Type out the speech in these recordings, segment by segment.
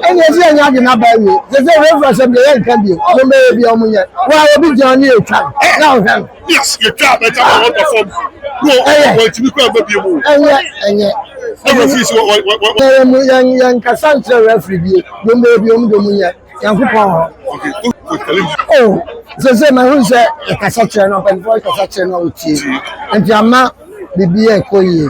ɛne ɛsɛ ɛnyɛ ade na baa wie sɛ sɛ wei fura sɛ deɛ yɛ nka bio mo bɛyɛ bi ɔmo nyɛ wa obi gyina ne yɛ twa na ɔhwɛ no yes yɛ twa bɛ twa ɔmo da fam no ɛyɛ wɔn ti bi kura bɛ bi mu ɛnyɛ ɛnyɛ ɛwɔ fi si wɔ wɔ wɔ wɔ yɛn mu yɛn yɛn kasa nkyerɛ rɛfiri bi mo bɛyɛ bi ɔmo de ɔmo nyɛ yɛn ko pɔn hɔ o sɛ sɛ ma hun sɛ ɛkasa kyerɛ no ɔpɛnfɔ ɛkasa kyerɛ no ɔtie nti ama bibi yɛ kɔ yie.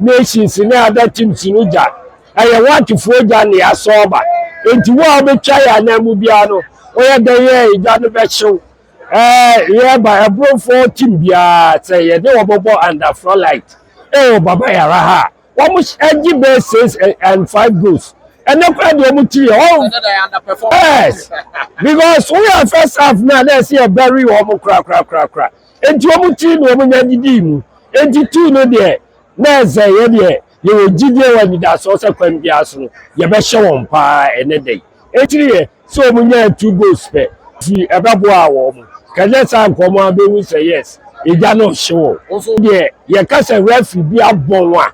Nations ne other teams no gya ɛyɛ white foɔ gya ne asɔɔba nti wo a wobɛtwa yɛ anan mu biara no woyɛ dɛn yɛ gya no bɛhyew ɛɛ yɛ ba ɛbronfoɔ team biara sɛ yɛde wɔbɔbɔ under floodlight ɛwɔ baba yara ha a wɔn ɛgye bɛɛ six and five goals ɛnɛ kora deɛ wɔn tiri yɛ wɔn yes because woyɛ first half na na ɛsɛ yɛ bury wɔn korakorakorakora. Enti wɔn ti na wɔn nya didii mu. Enti tu no deɛ, na ɛsɛ yɛ deɛ yɛwɔ gyidie wɔ anidasoɔ sɛ kwan biara so no, yɛbɛhyɛ wɔn pa ara ɛnɛ da yi. Akyiri yɛ sɛ wɔn nyaa two goals pɛ. Nti ɛbɛboaa wɔn. Kanyɛ saa nka wɔn ara bɛhu sɛ yes, agya no rehye wɔn. Wo nso deɛ yɛka sɛ referee bi abɔ wo a,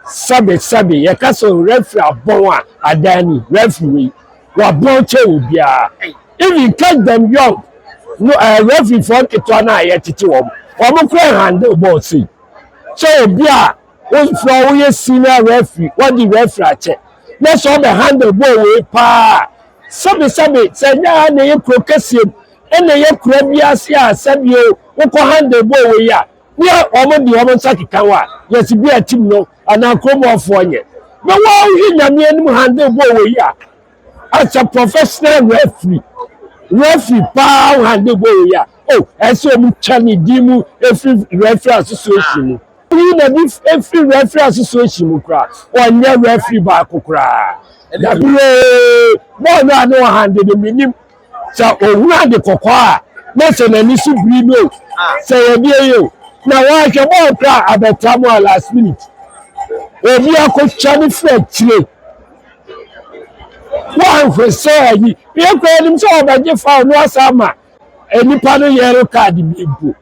sɛbe sɛbe yɛka sɛ referee abɔn a adan ni referee wabɔn kyɛ wɔ biara even catch them young no ɛɛ eh, referee fɔ nketewa no a yɛtete wɔn wɔn kora handle bɔɔl sei sɛ obi a wofura woyɛ senior referee wɔde referee akyɛ na sɛ ɔbɛ handle bɔɔl wei paa sɛbe sɛbe sɛ nyɛ ha na ɛyɛ kuro kɛseɛ mu ɛna ɛyɛ kura bi ase a sɛbe o wokɔ handle bɔɔl wei a bia wɔn de wɔn nsa keka hɔ a yɛsi bia tim no anaa kuromɔfoɔ nyɛ na wɔahwɛ nyame anim handle bɔɔ wɔ yi a as a professional referee referee paa handle bɔɔ wɔ yi a o oh, ɛsɛ wɔn twa ne din mu efiri referee association mu yi na bi efiri referee association mu koraa wɔnyɛ referee baako koraa dabi yee bɔɔl no a ne wɔn handle no mi nim. sɛ ohunu ade kɔkɔɔ a na sɛ n'ani so biri no o sɛ yɛde yɛ o na wɔahwɛ bɔɔl kora abɛta mu a last minute obi akɔtwa ne firi akyire wɔanhwɛ sɛ ayi yɛ kora anim sɛ wɔbɛgye fa no asa ama nnipa no yɛre kaade bi mpo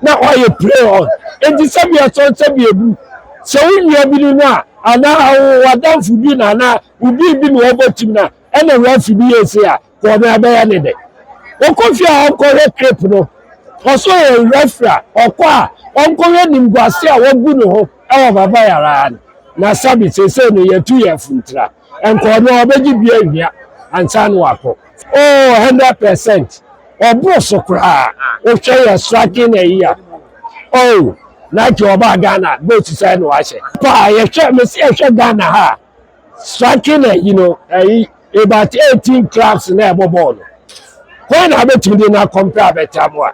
na ɔayɛ play on. Ntsi sɛ bi a sɔn sɛ bi ebu sɛ wo nuabi no no a, anaa w'adamfo bi no anaa obi bi na ɔbɔ tsim no a, nna roafi bi yie sei a, kɔ na bɛyɛ ne dɛ. Ɔkɔ fie a ɔnkɔhwɛ clip no, ɔsɛ ɔyɛ referee a, ɔkɔ a ɔnkɔhwɛ nyimguase a wogu no ho wɔ Vavae araa no. Na Sabi, sesei no yɛtu yɛn funtra. Ɛnkɔɔ no, ɔbɛgye bi awia ansa na wakɔ. Oh, hundred percent. Ɔboro so koraa. Wohwɛ yɛ striking a ɛyi a. Oh, Nike ɔbaa Ghana, boots sɛn na wahyɛ? Paa, yɛhwɛ, mese yɛhwɛ Ghana ha a, striking a ɛyi no, ɛyi, about eighteen clubs na ɛbɔ bɔɔl no. Hwan na abɛtumi de no akɔmpɛ abɛtra mo a?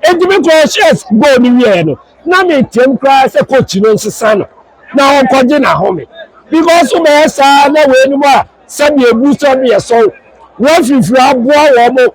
Enti me kɔɔ hyɛs goal no wieɛ no, na meteam koraa sɛ coach no nsesa no. na ɔnkɔgye n'ahome because wobɛyɛ saa na weinom a sɛdeɛ ɛgu sɛ ɔmo yɛ sɔw woafifiri aboa wɔn mo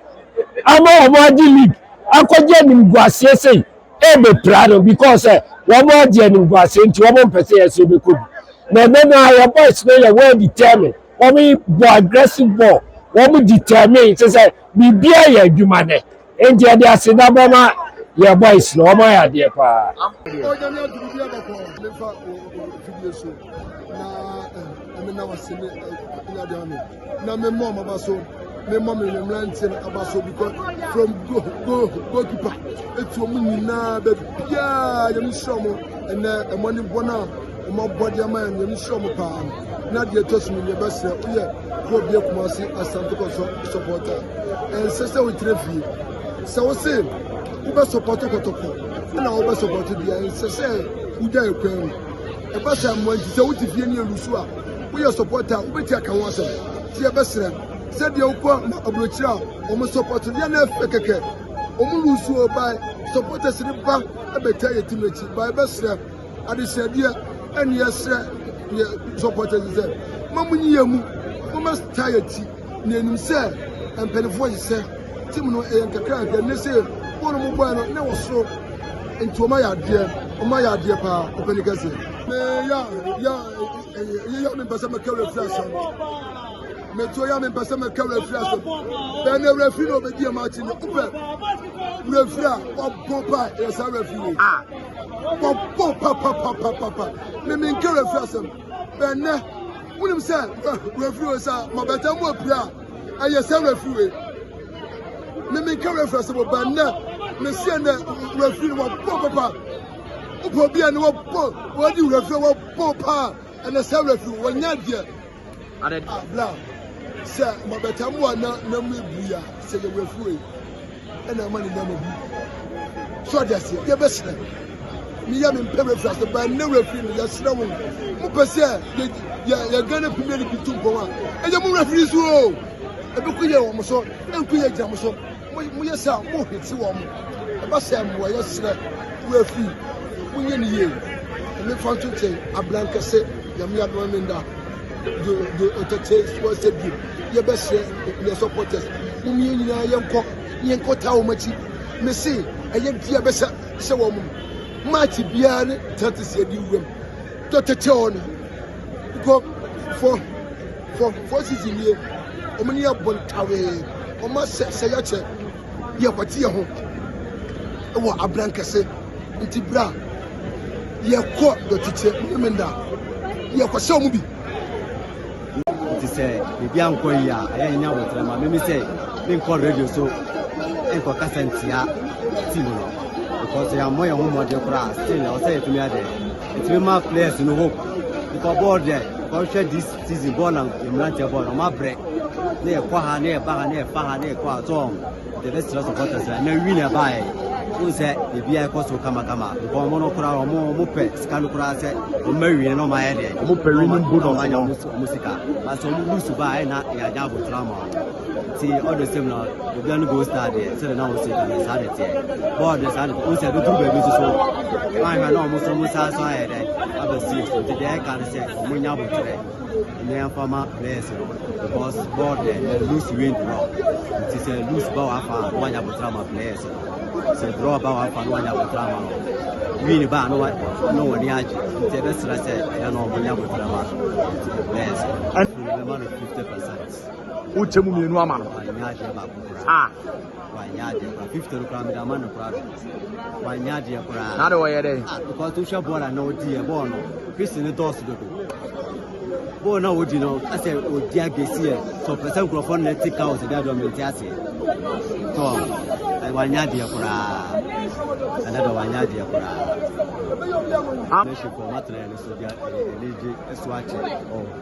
ama wɔn agye league akɔgye animguaseɛ sei ɛbɛpira no because sɛ wɔn agye animguaseɛ nti wɔn mpɛ sɛ yɛsɛ bɛkɔ bi na ɛnɛ no a yɛ boys no yɛ well determined wɔn bɔ aggressive ball wɔn determined sɛ sɛ biribiara yɛ adwuma nɛ Enti yɛde aseda bɛma yɛ boys no wɔn ayɛ adeɛ paa. ɔnyame aduru bi abɛkɔ mefa fidie so na ɛme na wase ne nyade ano na memmɔ ɔmaba so memmɔ me mmeranteɛ no aba so because from go go goalkeeper ɛtuo mu nyinaa baabiaa nyame hyira mo ɛnɛ ɛmɔ ne bɔ no a ɔmabɔ deɛ ma yɛ nyame hyira mo paa na deɛ ɛtɔ so mu yɛbɛsrɛ woyɛ yɛ obi akuma ase asante kɔsɔ sɔpɔta ɛnsɛ sɛ wogyina fie sɛ wo se wobɛ sɔpɔto kɔtɔkɔ ɛna wobɛ sɔpɔto bia ɛnsɛ sɛ wogya ɛkwan mu ɛba sɛ mmoa nti sɛ wote fie ne alusu a woyɛ sɔpɔta a wobɛti aka ho asɛm nti yɛbɛserɛ sɛdeɛ wokɔ na aburokyerɛ a wɔn sɔpɔto deɛ na ɛfɛ kɛkɛ wɔn lusu ɔbae sɔpɔta sere ba ɛbɛtaa yɛ tim akyi ba ɛbɛserɛ Adesrɛdeɛ ɛne yɛsrɛ yɛ supporters sɛ ma mo nyiyɛ mu moma star yɛ ti na yɛnim sɛ mpanifoɔ yi sɛ team no ɛyɛ nkakraadeɛ ne sɛ wɔn no mo bɔɛ no na wɔ soro nti wɔn ayɛ adeɛ wɔn ayɛ adeɛ paa ɔpɛni kɛse me ya ya ɛyɛ ya me mpɛsɛ mɛka wura firi asɛm mɛtuo ya me mpɛsɛ mɛka wura firi asɛm bɛn na wura firi na ɔbɛdi ɛma akyi ne wopɛ wura firi a wɔbɔ paa ɛyɛ saa wura firi wɔbɔ papapapapa ne menka refiri asɛm bɛnɛ wonim sɛ refiri wei sɛ mabɛta mu apira a ɛyɛ sɛ refiri wei ne menka refiri asɛm bɛnɛ meseɛ nɛ refiri no wɔbɔ papa wopɛ obi a ne wɔbɔ wɔdi refiri wɔbɔ paa ɛnɛ sɛ refiri wɔnyɛ deɛ Ada. Abla sɛ mabɛta mu a na na mu ebu ya sɛ yɛ wɛfuwe ɛna ama ne nneɛma bu so ɔde aseɛ yɛ bɛ srɛ ne yɛ me mpɛ wɛfiri ase ba ne wɛfiri no yɛ srɛ wo mo pɛ sɛ yɛ yɛ yɛ gana pimire ne bi tu mpɔn a ɛyɛ mo wɛfiri so o ebi ko yɛ wɔn so ɛnko yɛ gyina mo so. Moyɛ sɛ a mohwete wɔn. Ɛba sɛ mmoayɛ serɛ wo afi. Monyɛ no yie. Mefa nto nkyɛn abrankɛse Nyame adoma me nda do do ɔtɛtɛ soɔ sɛ bio yɛbɛsrɛ yɛ supporters mom yɛn nyinaa yɛnkɔ yɛnkɔ taa wɔn akyi mese ɛyɛ deɛ bɛsɛ sɛ wɔn match biara ne tɛtɛsi adi wuram dɔtɛtɛ ɔne Because for for for season yie, wɔn ni ɛbɔ ntawee, wɔn asɛ sɛ yɛkyɛ yɛ kwati yɛ ho wɔ abran kɛse nti bra yɛkɔ dɔkyekyɛ mmemmenda yɛkɔ sɛ wɔn bi. nti sɛ biribi ankɔ yi a ɛyɛ nya abotire ma mimi sɛ menkɔ radio so nkɔ kasa ntia team no because yɛammɔ yɛn ho mmɔden koraa still ɛwɔ sɛ yɛtumi adɛ Etumi ma players no hope nipa bɔɔl deɛ kɔhwɛ this season bɔɔl na mmeranteɛ bɔɔl ɔmo abrɛ ne yɛ kɔ ha ne yɛ ba ha ne yɛ fa ha ne yɛ kɔ ha tɔn deɛ bɛ srɛ supporters na wi na ɛba yɛ fún sɛ ebi a ɛkɔ so kamakama nka ɔmo no kora ɔmo ɔmo pɛ sika no kora sɛ ɔmo bɛ wi na ɔmo ayɛ deɛ ɔmo pɛ wi ne bonus na ɔmo sika baasa ɔmo lusu ba ayɛ na yɛ adi abotire ama ɔmo. ti ɔdɔ sɛm na obi ano gold star deɛ sɛdeɛ na wɔsi ɛdɔ saa de teɛ bɔɔl de saa de o sɛ ɛbɛduru baabi nso so wɔn ahwɛ na wɔn so wɔn san so ayɛ dɛ aba sii so nti deɛ ɛka no sɛ wɔn nya abotire ne yɛmfa ma players no because bɔɔl deɛ loose win draw nti sɛ loose ba wɔ afa a wɔanya abotire ama players no sɛ draw ba wɔ afa no wɔanya abotire ama no win ba no na wɔn ani agye nti ɛbɛsrɛ sɛ ɛyɛ na wɔn nya abotire ama players no ɛbɛma no fifty percent. wokyɛ mu mmienu ama no ah. wanyɛ adeɛ koraa fifty no koraa mede ama no koraa do wanyɛ adeɛ koraa na de wɔyɛ dɛ ah because to hwɛ bɔɔl a na ɔdi yɛ bɔɔl no fisi ne dɔɔso dodo bɔɔl na ɔdi no asɛ ɔdi agesi yɛ sɛ ɔpɛ sɛ nkurɔfoɔ no na ɛte ka ɔsɛ de adɔ mente aseɛ tɔ wanyɛ adeɛ koraa ɛnɛ dɔ wanyɛ adeɛ koraa mɛhyɛ kɔ matena yɛ no so de ɛne gye ɛso akyɛ ɔwɔ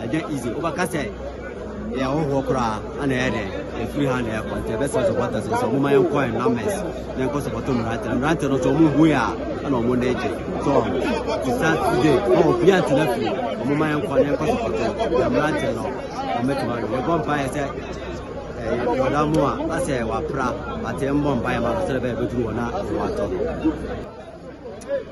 Agya Ize, wobɛka sɛ yɛ ahohoɔ koraa ana ɛyɛ dɛn ɛfiri ha na ɛkɔ nti ɛbɛsɛ supporters sɛ ɔmoma yɛnkɔ ɛ numbers na ɛnkɔ supporto mmerante na mmerante no sɛ ɔmo hu yɛ a ɛna ɔmo na ɛgye so ti saturday na obi antena fie ɔmoma yɛnkɔ na ɛnkɔ supporto na mmerante no ɔmɛtuma no yɛbɔ mpaeɛ sɛ ɔda mu a asɛ wapra ate mbɔ mpaeɛ ma no sɛ ɛbɛyɛ bɛduru hɔ na watɔ